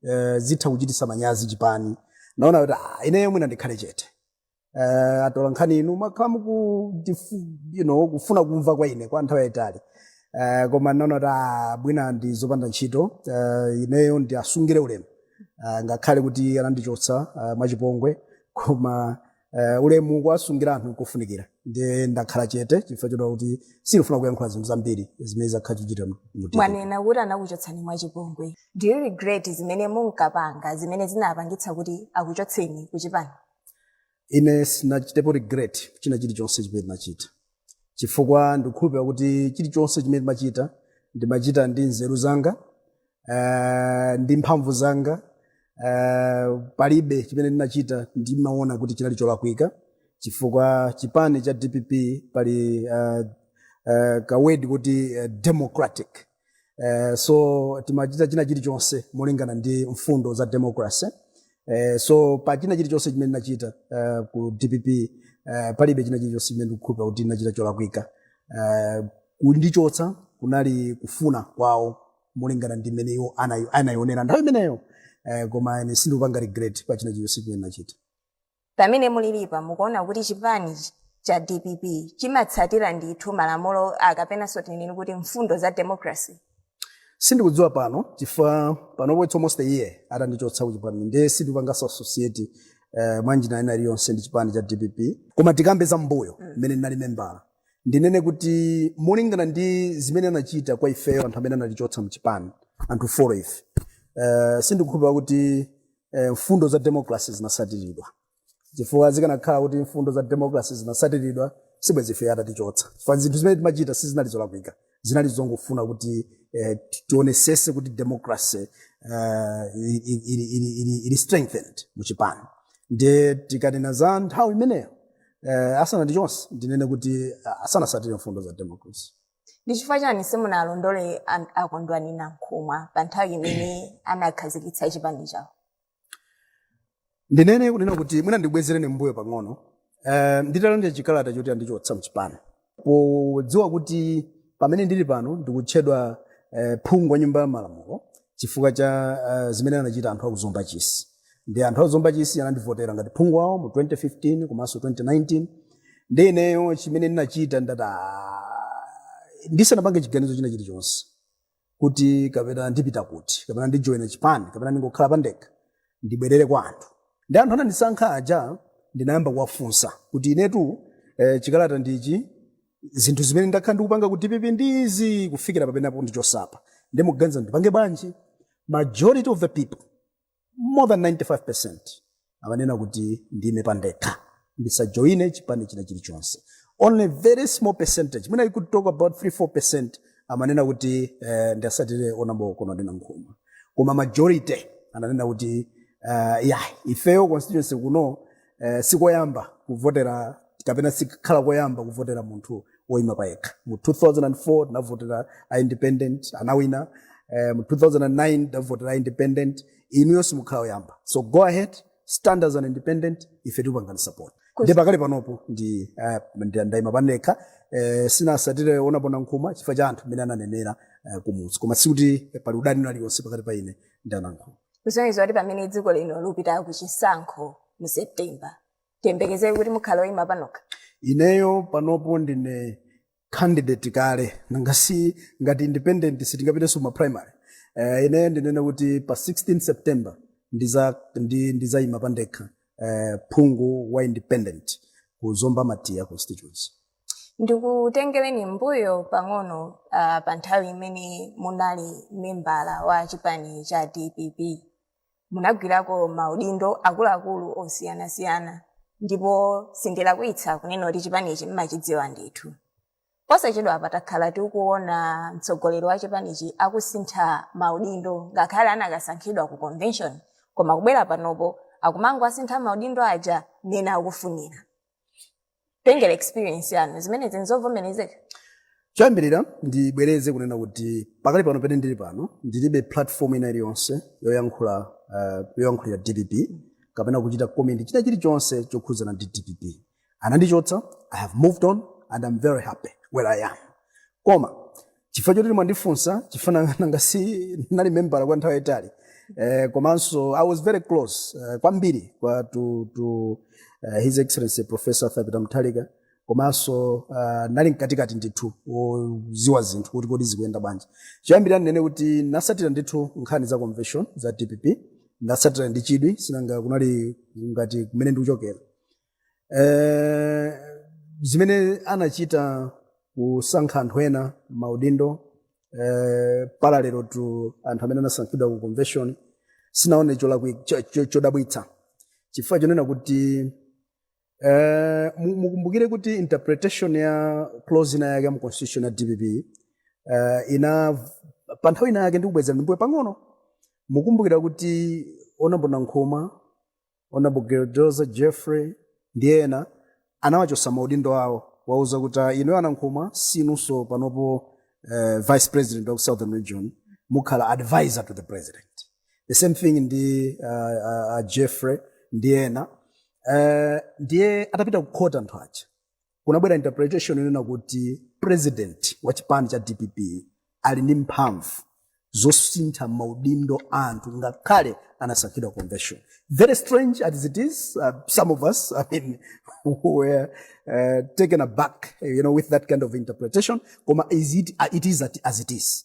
eh, zitha kuchitisa manyazi chipani naona kuti ah, ineyo mwina ndikhale chete eh, atola nkhani inu makhala mukudifu- you know, kufuna kumva kwa ine kwa nthawi yayitali eh, koma naona kuti ah, mwina ndi zopanda ntchito eh, ineyo ndiasungire ulemu eh, ngakhale kuti anandichotsa eh, mwachipongwe koma Eh, ulemu kuwasungira anthu nkofunikira ndiye ndakhala chete chifukwa choti kuti sindifuna kuyankhula zinthu zambiri zimene zakhala zikuchitika mu- mu DPP. mwanena kuti anakuchotsani mwachipongwe do you regret zimene munkapanga zimene zinapangitsa kuti akuchotseni kuchipani ine sindinachitepo regret china chilichonse chimene ndinachita chifukwa ndikukhulupirira kuti chilichonse chimene ndimachita ndimachita ndi nzeru zanga eh, ndi mphamvu zanga eh, palibe chimene ndinachita ndimaona kuti chinali cholakwika chifukwa chipani cha dpp pali eh, eh, kawedi kuti eh, democratic eh, so timachita china chilichonse molingana ndi mfundo za democracy eh, so pa china chilichonse chimene ndinachita eh, ku dpp eh, palibe china chilichonse chimene ndikukhulupira kuti ndinachita cholakwika eh, kundichotsa kunali kufuna kwawo molingana ndi mmene iwo anayi- anayionera nthawi imeneyo eh, koma ine sindikupanga regret pa china chilichonse chimene ndinachita pamene mulilipa mukuona kuti chipani ch- cha dpp chimatsatira ndithu malamulo kapenanso tinene kuti mfundo za democracy sindikudziwa pano chifukwa panopo it's almost a year atandichotsa kuchipani nde sindikupanganso associate uh, mwanjira ina iliyonse ndi chipani cha dpp koma tikambe za mbuyo mmene ndinali membala ndinene kuti molingana ndi zimene anachita kwa ifeyo anthu amene anatichotsa mchipani anthu foro ife uh, sindikukhulupira kuti eh, mfundo za democracy zinasatiridwa chifukwa zikanakhala kuti mfundo za democracy zinasatiridwa sibwezi ife atatichotsa chifukwa zinthu zimene timachita sizinali zolakwika zinali zongofuna kuti eh, ti- tionesese kuti democracy eh, ili- ili- ili- ili- ili strengthened mu chipani ndiye tikanena za nthawi imeneyo eh, asanatichotse ndinene kuti ah, sanasatire mfundo za democracy Ndi chifukwa chani simunawalondole an- a Kondwani Nankhumwa pa nthawi imene anakhazikitsa chipani chawo? ndinene kunena kuti mwina ndibwezereni mbuyo pang'ono uh, nditalandira chikalata choti andichotsa mchipani podziwa kuti pamene ndili pano ndikutchedwa uh, phungu wa nyumba ya malamulo chifukwa cha uh, zimene anachita anthu a ku Zomba Chisi ndi anthu a Zomba Chisi anandivotera ngati phungu wawo mu 2015 komanso 2019 ndi ineyo chimene ndinachita ndati "Ah, ndisanapange chiganizo china chilichonse kuti kapena ndipita kuti kapena ndijoyina chipani kapena ndingokhala pandekha ndibwerere kwa anthu ndi anthu anandisankha aja ndinayamba kuwafunsa kuti inetu eh, chikalata ndichi zinthu zimene ndakhala ndikupanga ku dpp ndizi kufikira papenapo andichotsapa ndiye mukuganiza ndipange bwanji majority of the people more than 95% amanena kuti ndime pandekha ndisajoine chipani china chilichonse only very small percentage mwina you could talk about 3 4 percent amanena kuti eh, ndiwatsatire honourable Kondwani Nankhumwa koma majority ananena kuti uh, yeah, ifeyo constituency kuno eh, sikoyamba kuvotera kapena sikhala koyamba kuvotera munthu woyima payekha mu 2004 tinavotera a independent anawina eh, mu 2009 tinavotera a independent inuyo simukhala oyamba so go ahead stand as an independent ife tikupangani support ndiye pakali panopo ndi eh, ndi- ndayima pandekha eh, sinawatsatire honourable Nankhumwa chifukwa cha anthu amene ananenera eh, kumudzi koma sikuti pali udani uliwonse pakati pa ine ndi a Nankhumwa kusonyeza kuti pamene dziko lino likupita ku chisankho mu september tiyembekeze kuti mukhala oyima panokha ineyo panopo ndine candidate kale nanga si ngati independent sitingapitenso ma primary uh, ineyo ndinene kuti pa 16 september ndiza ndi, ndizayima pandekha uh, phungu wa independent ku zomba matiya constituency ndikutengereni mbuyo pang'ono uh, pa nthawi imene munali membala wa chipani cha dpp munagwirako maudindo akuluakulu osiyanasiyana ndipo sindilakwitsa kunena kuti chipanichi mmachidziwa ndithu posachedwapa takhala tikuona mtsogoleri wa chipanichi akusintha maudindo ngakhale anakasankhidwa ku convention koma kubwera panopo akumangowasintha maudindo aja mmene akufunira kutengera experience yanu zimenezi nzovomerezeka choyambirira ndibwereze kunena kuti pakali pano pene ndili pano ndilibe platform ina iliyonse yoyankhula uh, yoyankhulira dpp kapena kuchita comment china chilichonse chokhudzana ndi dpp anandichotsa i have moved on and i'm very happy where i am koma chifukwa choti mwandifunsa chifukwa nanga- nanga si nali membala kwa nthawi yayitali eh, komanso i was very close eh, kwambiri kwa to, to eh, his excellency professor arthur peter mutharika komanso uh, nali mkatikati ndithu kudziwa zinthu kuti kodi zikuyenda bwanji choyambirira ndinene kuti ndatsatira ndithu nkhani za convention za dpp ndatsatira ndi chidwi sinanga kunali ngati kumene ndikuchokera Eh, zimene anachita kusankha anthu ena maudindo eh, parallel to anthu amene anasankhidwa ku convention sindinaone cholakwi- cho- cho- chodabwitsa chifukwa chonena kuti eh, mu- mukumbukire kuti interpretation ya clause ina yake ya mu constitution ya dpp eh, ina pa nthawi ina yake ndikubwezeni m'mbuyo pang'ono mukumbukira kuti honourable nankhumwa honorable grezelder jeffrey ndi ena anawachotsa maudindo awo kuwauza kuti "Ah, inuyo a nankhumwa sinunso panopo eh, vice president of southern region mukhala advisor to the president the same thing ndi uh, uh, uh, jeffrey ndi ena uh, ndiye atapita kukhoti anthu aja kunabwera interpretation yonena kuti president wa chipani cha dpp ali ndi mphamvu zosintha maudindo a anthu ngakhale anasankhidwa convention very strange as it is uh, some of us i mean were uh, taken aback you know with that kind of interpretation koma it is, uh, it is at- as it is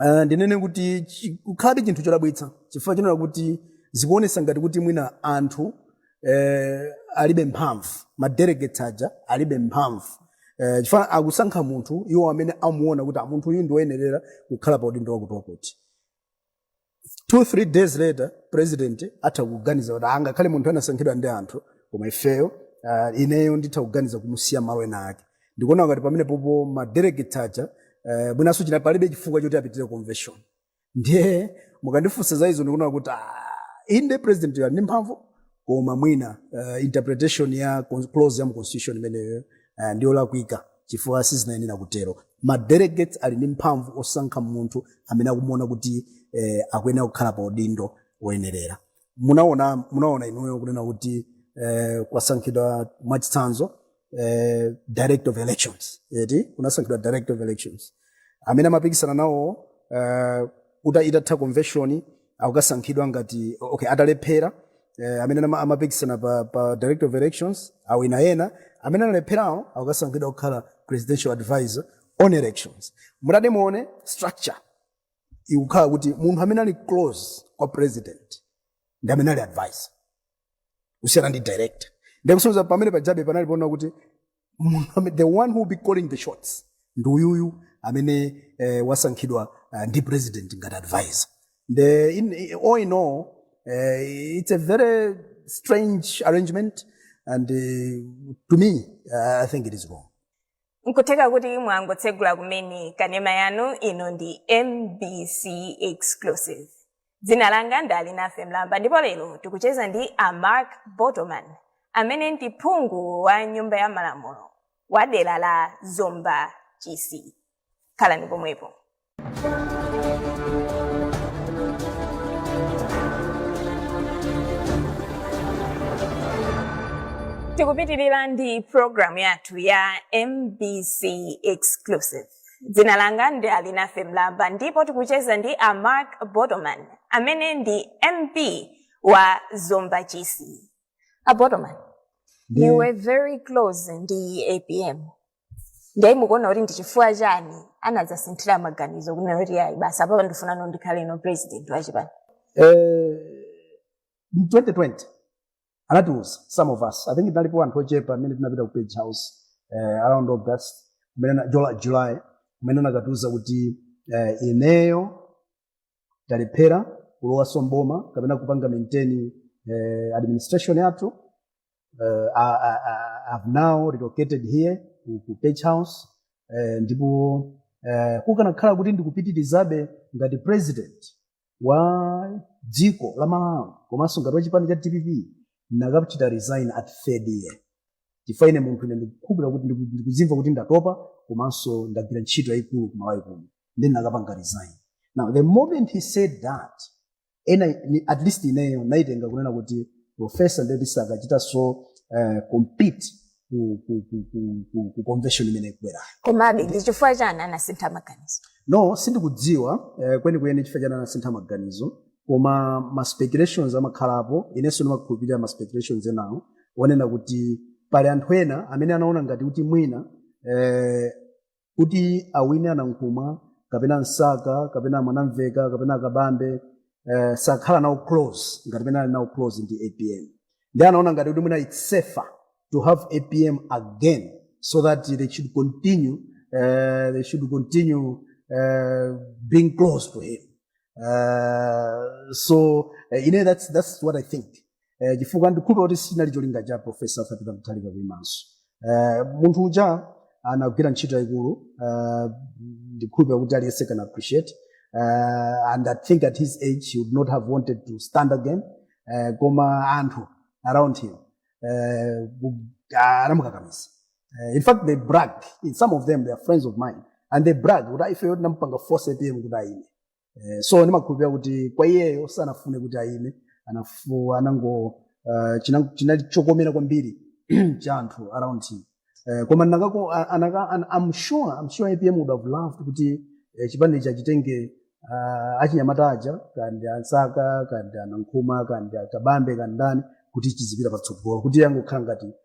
uh, ndinene kuti chi- kukhalabe chinthu chodabwitsa chifukwa chonena kuti zikuonetsa ngati kuti mwina anthu eh, alibe mphamvu madelegates aja alibe mphamvu eh, chifukwa akusankha munthu iwo amene amuona kuti "Ah, munthu uyu ndiwoyenerera kukhala pa udindo wakuti wakuti two three days later president atha kuganiza kuti angakhale munthu anasankhidwa ndi anthu koma ifeyo uh, ineyo nditha kuganiza kumusiya malo ena ake ndikuona ngati pamenepopo madelegate aja uh, mwinanso china palibe chifukwa choti apitire convention ndiye mukandifunsa za izo ndikuona kuti ah, inde president ali ndi mphamvu koma mwina uh, interpretation ya con- clause ya mu constitution imeneyo uh, ndiyolakwika chifukwa sizinayenera kutero ma delegates ali ndi mphamvu osankha munthu amene akumuona kuti eh, akuyenera kukhala pa udindo woyenerera munaona munaona inuyo kunena kuti eh, kwasankhidwa mwachitsanzo eh, director of elections eti kunasankhidwa director of elections amene amapikisana nawo eh, uta itatha convention akukasankhidwa ngati okay atalephera eh, amene ama- amapikisana pa, pa director of elections kuwina ena amene analepherawo akukasankhidwa kukhala presidential advisor on elections mutati muone structure ikukhala kuti munthu amene ali close kwa president ndi amene ali advisor kusiyana ndi director ndikusonyeza pamenepajabe panali poona kuti Munthu amene- the one who will be calling the shots ndi uyuyu amene eh, wasankhidwa eh, ndi president ngati advisor the in, in- all in all eh, it's a very strange arrangement and eh, to me eh, i think it is wrong nkutheka kuti mwangotsegula kumene kanema yanu ino ndi mbc exclusive dzina langa ndi alinafe mlamba ndipo lero tikucheza ndi a mark botomani amene ndi phungu wa nyumba ya malamulo wa dera la zomba chisi khalani pomwepo tikupitirira ndi programu yathu ya mbc exclusive dzina langa ndi alinafe mlamba ndipo tikucheza ndi a mark botomani amene ndi mp wa zomba chisi a botomani Ndi- you were very close ndi apm ndiye mukuona kuti ndi chifukwa chani anadzasinthira maganizo kunena kuti ayi basi apapa ndifunano ndikhaleno president wachipani Eh, mu 2020 anatiuza some of us i think tinalipo anthu ochepa amene tinapita ku page house eh, around august kumene july kumene anakatiuza kuti eh, ineyo talephera kulowanso mboma kapena kupanga maintain eh, administration yathu eh, I- I- I- I've now relocated here ku, ku page house eh, ndipo eh, kukanakhala kuti ndikupitirizabe ngati president wa dziko la malawi komanso ngati wa chipani cha dpp ndinakachita resign at third year chifukwa ine munthu ine ndikukhulupirira kuti ndiku- ndikuzimva kuti ndatopa komanso ndagwira ntchito yayikulu kumalawi kuno nde ndinakapanga resign now the moment he said that ena ni- at least ineyo naitenga kunena kuti professor ndeti sakachitaso uh, compete ku, ku, ku, ku, ku, ku convention imene ikubwerayo komabe ndi chifukwa chani anasintha maganizo no sindikudziwa eh, kwenikweni chifukwa chani anasintha maganizo koma ma speculations amakhalapo inenso ndimakhulupirira ma speculations enawo onena kuti pali anthu ena amene anaona ngati kuti mwina eh, kuti awine anankhumwa kapena msaka kapena mwanamveka kapena akabambe eh, sakhala nawo close ngati mmene ali nawo close ndi apm nde anaona ngati kuti mwina it's safer to have apm again so that they should continue uh, they should continue uh, being close to him uh, so uh, you know that's that's what i think eh, chifukwa ndikhulupira kuti sinali cholinga cha profesa Peter Mutharika kuimanso eh, munthu uja anagwira ntchito yayikulu eh, ndikhulupira kuti aliyense can appreciate eh, and I think at his age he would not have wanted to stand again eh, koma anthu around him eh, ku- anamukakamiza Eh, in fact they brag some of them they are friends of mine and they brag kuti ifeyo tinamupanga force apm kuti ayime eh, so ndimakhulupirira kuti kwa iyeyo sanafune kuti ayime anafu- anango uh, china- chinali chokomera kwambiri cha anthu around him eh, koma ndinakako a- anaka an, I'm sure I'm sure APM would have loved kuti eh, chipani chija achitenge uh, achinyamata aja kaya ndi a Msaka kaya ndi a Nankhumwa kaya ndi a Kabambe kaya ndi ndani kuti chizipita patsogolo kuti angokhala ngati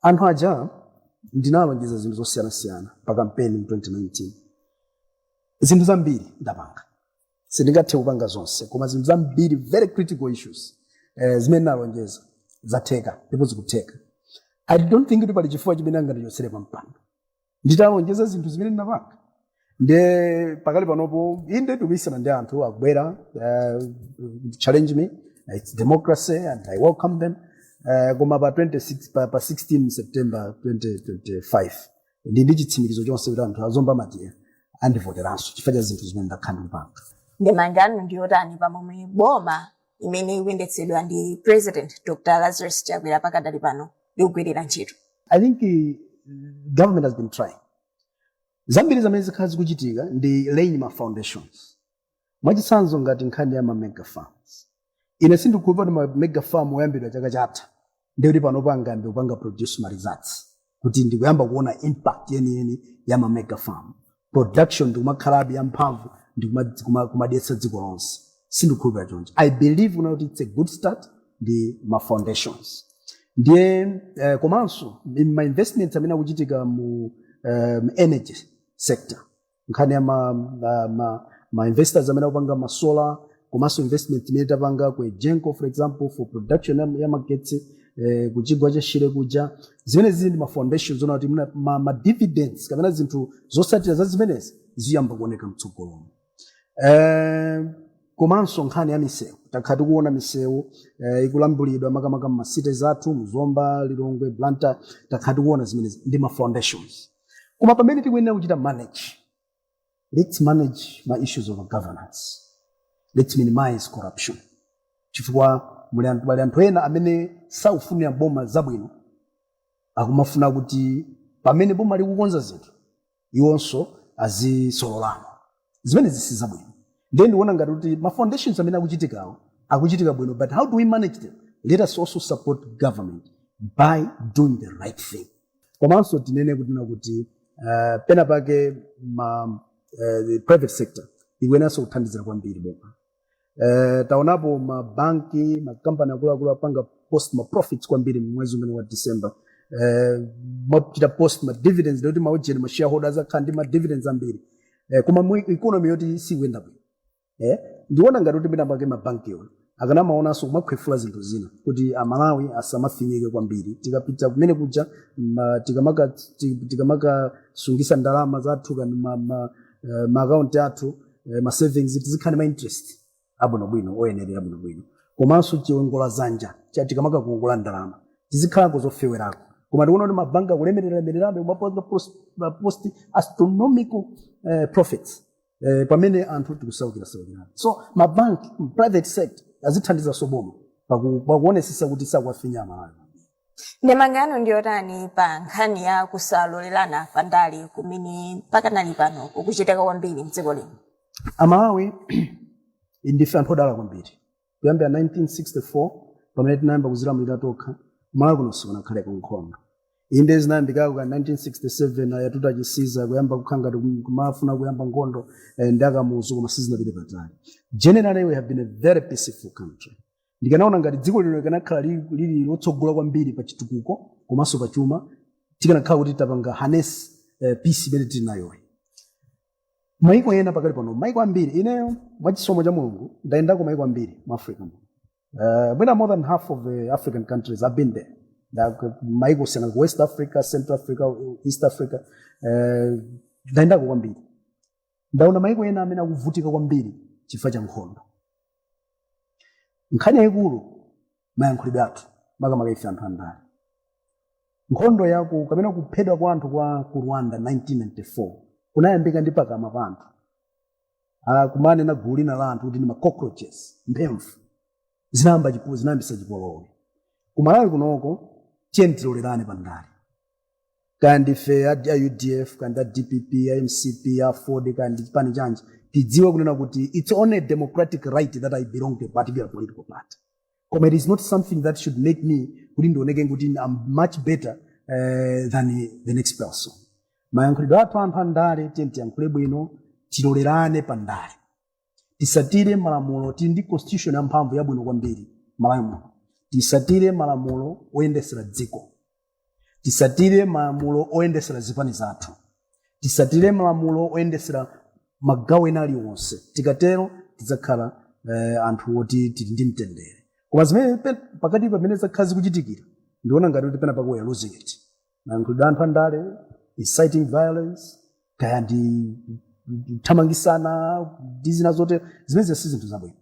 anthu aja ndinalonjeza zinthu zosiyanasiyana pa kampeni mu 2019 zinthu zambiri ndapanga sindingathe kupanga zonse koma zinthu zambiri very critical issues eh, zimene ndinalonjeza zatheka ndipo zikutheka i don't think kuti pali chifukwa chimene angandichotsere pa mpando nditalonjeza zinthu zimene ndapanga nde pakali panopo inde ndikumanizana ndi anthu akubwera kuzachallenge me it's democracy and i welcome them uh, koma pa 26 pa, pa 16 september 2025 ndili ndi chitsimikizo chonse kuti anthu a Zomba Matiya andivoteranso chifukwa cha zinthu zimene ndakhala ndikupanga ndemanga yanu ndiyotani pamomwe boma imene ikuyendetsedwa ndi president dr lazarus chakwera pakadali pano likugwirira ntchito I think eh, government has been trying. Zambiri zimene zakhala zikuchitika ndi laying ma foundations. Mwachitsanzo ngati nkhani ya ma mega farms. Ine sindikukhulupira kuti ma mega farm oyambidwa chaka chatha ndiye kuti panopo angayambe kupanga produce ma results kuti ndikuyamba kuona impact yeniyeni ya ma mega farm production ndikumakhalabe yamphamvu ndikumadyetsa dziko lonse sindikhulupira choncho i believe kunena kuti it's a good start ndi ma foundations ndiye eh, komanso ma investments amene akuchitika mu um, energy sector nkhani ya ma, ma, ma, ma investors amene akupanga ma solar komanso investment imene tapanga ku egenco for example for production ya- ya magetsi eh, kuchigwa cha shire kuja zimene zija ndi ma foundations kunena kuti mna- ma, ma dividends kapena zinthu zotsatira za zimenezi ziyamba kuoneka mtsogolomu Eh, komanso nkhani ya misewu takhala tikuona misewu eh, ikulambulidwa makamaka mma cities athu mzomba lilongwe blantyre takhala tikuona zimenezi ndi ma foundations koma pamene tikuyenera kuchita manage let's manage ma issues of governance let's minimize corruption chifukwa muli anthu pali anthu ena amene sakufunira boma zabwino akumafuna kuti pamene boma likukonza zinthu iwonso azisololamo zimenezi si zabwino ndiye ndikuona ngati kuti ma foundations amene akuchitikawo akuchitika bwino but how do we manage them let us also support government by doing the right thing komanso tinene kunena kuti uh, pena pake ma uh, the private sector ikuyeneranso kuthandizira kwambiri boma Eh, taonapo mabanki makampani akuluakulu apanga post ma profits kwambiri mwezi umene wa december eh, achita post ma dividends ndikuti maujeni ma shareholders akhala ndi ma dividends ambiri eh, koma mu economy yoti sikuyenda bwino eh, ndiona ngati kuti pena pake mabanki ona akanamaonanso kumakhwefulako zinthu zina kuti amalawi asamafinyike kwambiri tikapita kumene kuja ma- tikamaka ti- tikamakasungisa ndalama zathu kani ma- ma- eh, maakaunti athu eh, ma savings tizikhale ma interest abwinobwino oyenerera bwinobwino komanso chiwongola dzanja cha tikamaka kukongola ndalama zizikhalako zofewerako koma tikuona kuti mabanki akulemereralemererabe kumapanga pos- ma post astronomical eh, profits eh, pamene anthu tikusaukirasaukirana so mabanki private sector azithandizaso boma pakuonesesa kuti sakuwafinya amalawi Ndemanga yanu ndi yotani pa nkhani ya kusalolerana pa ndale kumene pakanali pano kukuchitika kwambiri mdziko lino? amalawi ndife anthu odala kwambiri kuyambira 1964 pamene tinayamba kuzilamulira tokha kumalawi kuno sikunakhaleko nkhondo inde zinayambikako ka 1967 a yatuta chisiza kuyamba kukhala ngati kum- kumafuna kuyamba nkhondo eh, ndi a kamuzu koma sizinapite patali generally we have been a very peaceful country ndikanaona ngati dziko lino likanakhala lili lili lotsogola kwambiri pa chitukuko komanso pa chuma tikanakhala kuti tapanga harness eh, peace imene tili nayoyi maiko ena pakali pano maiko ambiri ineyo mwachisomo cha mulungu ndayendako maiko ambiri mu africa muno uh, mwina more than half of the african countries i have been there Nda- maiko siyana ku west africa central africa east africa uh, ndayendako kwambiri ndaona maiko ena amene akuvutika kwambiri chifukwa cha nkhondo nkhani yayikulu mayankhulidwe athu makamaka ife anthu andale nkhondo yaku kapena kuphedwa kwa anthu kwa ku rwanda 1994 kunayambika ndi pakamwa pa anthu Ah, kumanena gulu lina la anthu kuti ndi ma cockroaches mphemvu zinayamba chipu- zinayambisa chipolowe kumalawi kunoko tiyeni tilolerane pa ndale kaya ndife a a udf kaya ndi a dpp a mcp aford kaya ndi chipani chanji tidziwe kunena kuti its only a democratic right that i belong to a particular political party koma it is not something that should make me kuti ndioneke kuti i'm much better uh, than the next person mayankhulidwe athu anthu a ndale tiyeni tiyankhule bwino tilolerane pa ndale tisatire malamulo tili ndi constitution ya mphamvu yabwino kwambiri malawi muno tisatire malamulo oyendesera dziko tisatire malamulo oyendesera zipani zathu tisatire malamulo oyendesera magawo ena aliwonse tikatero tidzakhala eh, anthu oti tili ndi mtendere koma zimene pe- pakati pamene zakhala zikuchitikira ndiona ngati kuti pena pake we are losing it mayankhulidwe anthu andale inciting violence kaya ndi kuthamangisana ndi zina zote zimenezi si zinthu zabwino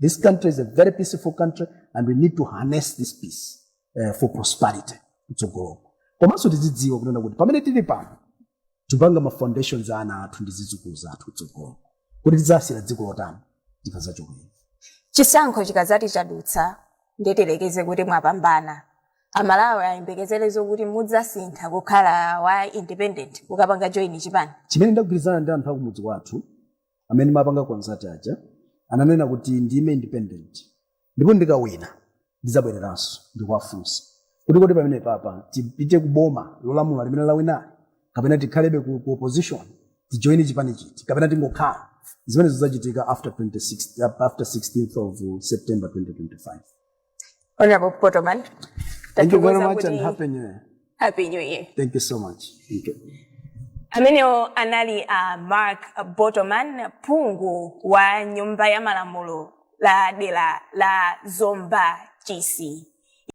this country is a very peaceful country and we need to harness this peace uh, for prosperity mtsogoloko komanso tizidziwa kunena kuti pamene tili pano tipanga ma foundations a ana athu ndi zidzukulu zathu tsogolo kuti tidzasiya dziko lotani tikazachokera chisankho chikadzati chadutsa ndiyerekeze kuti mwapambana amalawi ayembekezere zokuti mudzasintha kukhala wa independent kukapanga join chipani chimene ndagwirizana ndi anthu akumudzi kwathu amene ndimapanga consult aja ananena kuti ndime independent ndipo ndikawina ndidzabwereranso ndikuwafunsa kuti kodi pamene papa tipite ku boma lolamula limene lawinali kapena tikhalebe ku, ku opposition tijoine chipani chiti kapena tingokhala zimene zidzachitika after 26 after 16th of september 2025 Honorable Botoman, thank you very tatiuza much and kuti- happy new year happy new year thank you so much thank you amenewo anali a uh, mark botoman phungu wa nyumba ya malamulo la dera la zomba chisi